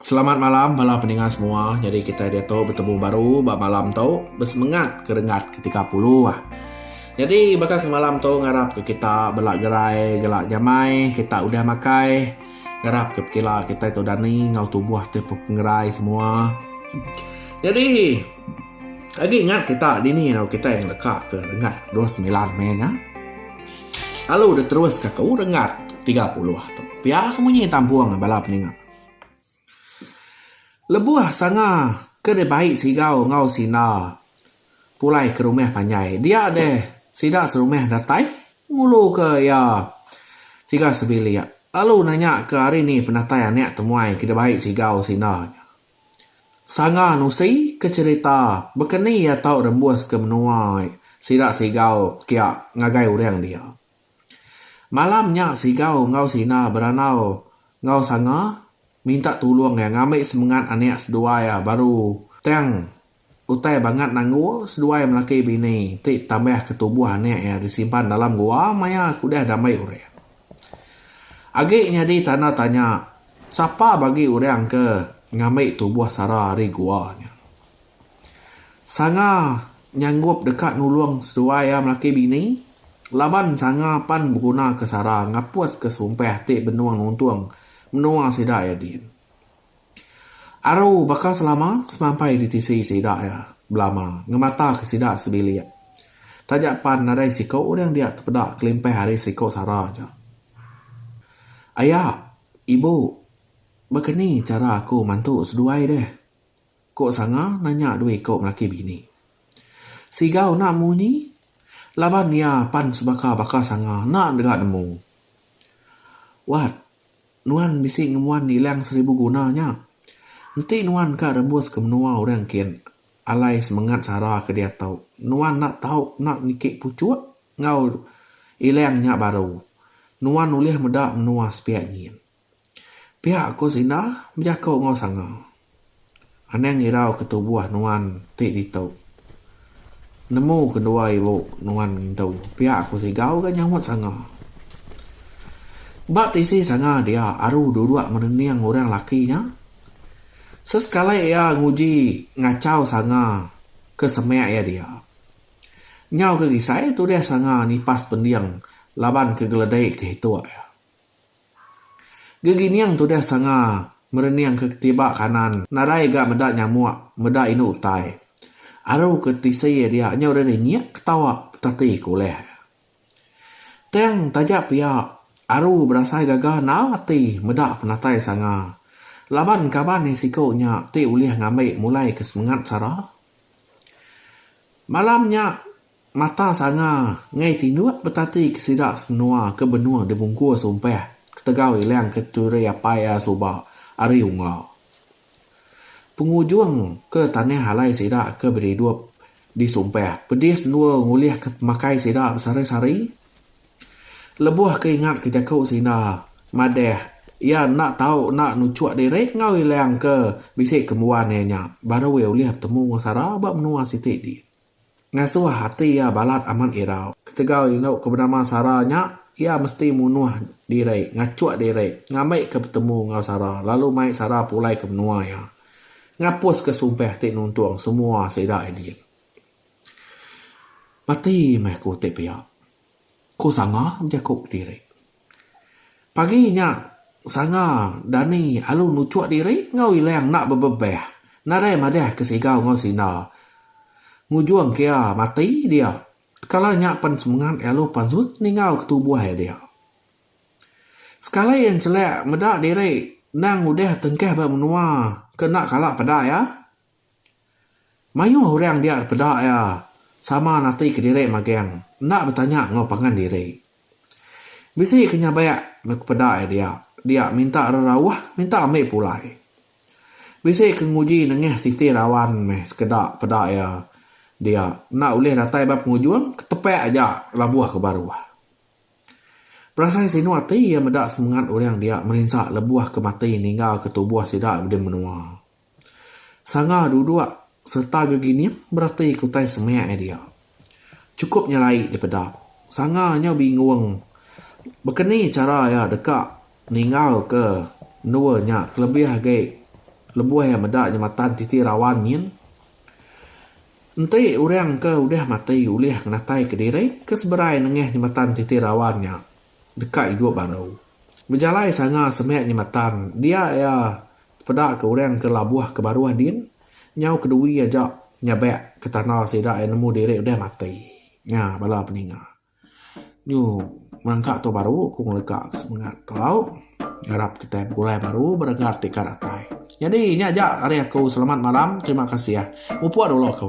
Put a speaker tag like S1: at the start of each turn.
S1: Selamat malam bala peninga semua. Nyadi kitai diatu betemu baru ba malam tu. Besemengat ke renggat ke tiga puluh. Nyadi baka ke malam tu ngarap ke kita bela gerai gela nyamai kita udah makai. Ngarap ke pekila kitai tu dani enggau tubuh ti pepengerai semua. Nyadi agi ngat kita dini lalu kitai ngeleka ke renggat dua semilan meh nya. Lalu diteruska ku rengat tiga puluh tu. Pia ke munyi tampung bala peninga. Lebuh sanga ke deh bai sigau enggau sina pulai ke rumah panjai dia deh sida serumah datai ngulu ke iya tiga sebilik lalu nanya ke hari ni penatai anak temuai ke deh bai sigau sina. Sanga nusi ke cerita bekeni iya tau rembus ke menua sida Sigau kia ngagai urang dia. Malam nya Sigau enggau Sina berandau enggau Sanga minta tulung iya ngambi semengat anak seduai iya baru tang Utai bangat nanggu seduai melaki bini ti tambah ke tubuh anak iya disimpan dalam gua maya ke udah dambai urang. Agi nyadi tanda tanya sapa bagi urang ke ngambi tubuh Sara ari gua nya. Sanga nyanggup deka nulung seduai iya melaki bini laban sanga pan begunaka Sara ngapuska sumpah ti benung nuntung menua sida iya din. Aru baka selama semampai di tisi sida iya belama ngemataka sida sebilik. Taja pan nadai siku orang dia tepeda kelimpah ari siku sara aja. Aya, ibu, baka ni chara aku mantu seduai deh? ku Sanga nanya dua iku lelaki bini. Siga enda munyi laban iya pan sebaka baka Sanga enda dega nemu. Wat, Nuan bisi ngemuan ilang seribu guna nya. Enti nuan ka rembus ke menua orang kin, alai semengat sara ke diatu, nuan enda tau kena niki puchuk enggau ilang nya baru. Nuan ulih meda menua sepiak nyin. Pia ku Sina bejaku enggau Sanga. Anang irau ke tubuh nuan ti ditu. Nemu kendua ibu nuan ngintu pia aku sigau ga nyaup sanga. Ba tisi sanga dia aru duduk menening orang laki nya. Sesekali iya nguji ngachau sanga ke semak iya dia. Nyau ke gisai tudih sanga nipas pending laban ke geledi ke hituk iya. Gegining tudah sanga merening ke ketiba kanan nadai ga meda nyamuk meda inu utai. Aru ke tisi dia nyau deh dinyik ketawa petati ke ulih. Tang taja pia Aru berasai gaga enggau ati meda penatai sanga laban kaban iya siku nya ti ulih ngambi mulai ke semengat sara. Malam nya. Mata sanga enggai tinduk betati ke sida semenua ke benung dibungkus umpah ketegal ilang ke turi apai iya suba ari unga. Pengujung ke tanah alai sida ke bedidup di sumpah pedis endur ngulih ke pemakai sida besari-sari. Lebuh ke ingat ke jaku Sinda madah iya enda tau enda nuchuk diri enggau ilang ke bisi kembuan iya nya baru iya ulih betemu enggau sara ba menua siti di. Ngasuh ati iya balat amat irau. Ketegal indu ke benama Sara nya, iya mesti munuh diri, ngachuk diri, ngambika betemu enggau Sara lalu mai Sara pulai ke menua iya. Ngapuska sumpah ti nuntung semua sida Edi. Mati meh aku ti pia, ku Sanga bejaku kediri. Pagi nya, Sanga, Dani, alu nuchuk diri enggau Ilang enda bebebah. Nadai madah ke Sigau enggau Sina. Ngujung kia mati dia. Kala nya pen semengat alu pansut ninggauka tubuh dia. Sekali enchelak meda diri endang udah tengkah ba menua ke enda kala peda iya. Mayuh orang dia dipeda iya sama natika diri magang enda betanya enggau pangan diri. Bisi ke nyabak meh ku peda iya dia, dia minta rerauh minta ambi pulai. Bisi ke nguji nengah titi rawan meh sekeda peda iya dia enda ulih datai ba pengujung ketepak aja labuh ke baruh. Berasai sinu ati iya meda semengat orang dia merinsa lebuh ke mati ninggalka tubuh sida di menua. Sanga duduk sereta gegining bereti ke utai semak iya dia. Chukup nyelai je peda. Sanga nyau bingung baka ni chara iya deka ninggalka endur nya kelebih agi lebuh iya meda jematan titi rawan nyin. Enti orang ke udah mati ulih ngenataika diri ke seberai nengah jematan titi rawan nya deka idup baru. Bejalai Sanga semak jematan dia iya Peda ke orang ke labuh ke baruh din nyau kedui aja nyabak ke tanda sida iya nemu diri udah mati. Nya bala peninga. Nyu merengka tu baru ku ngelega ke semengat tau ngarap kitai begulai baru beregat ti ka datai. Nyadi nya aja ari aku selamat malam terima kasih. Mupuk dulu aku.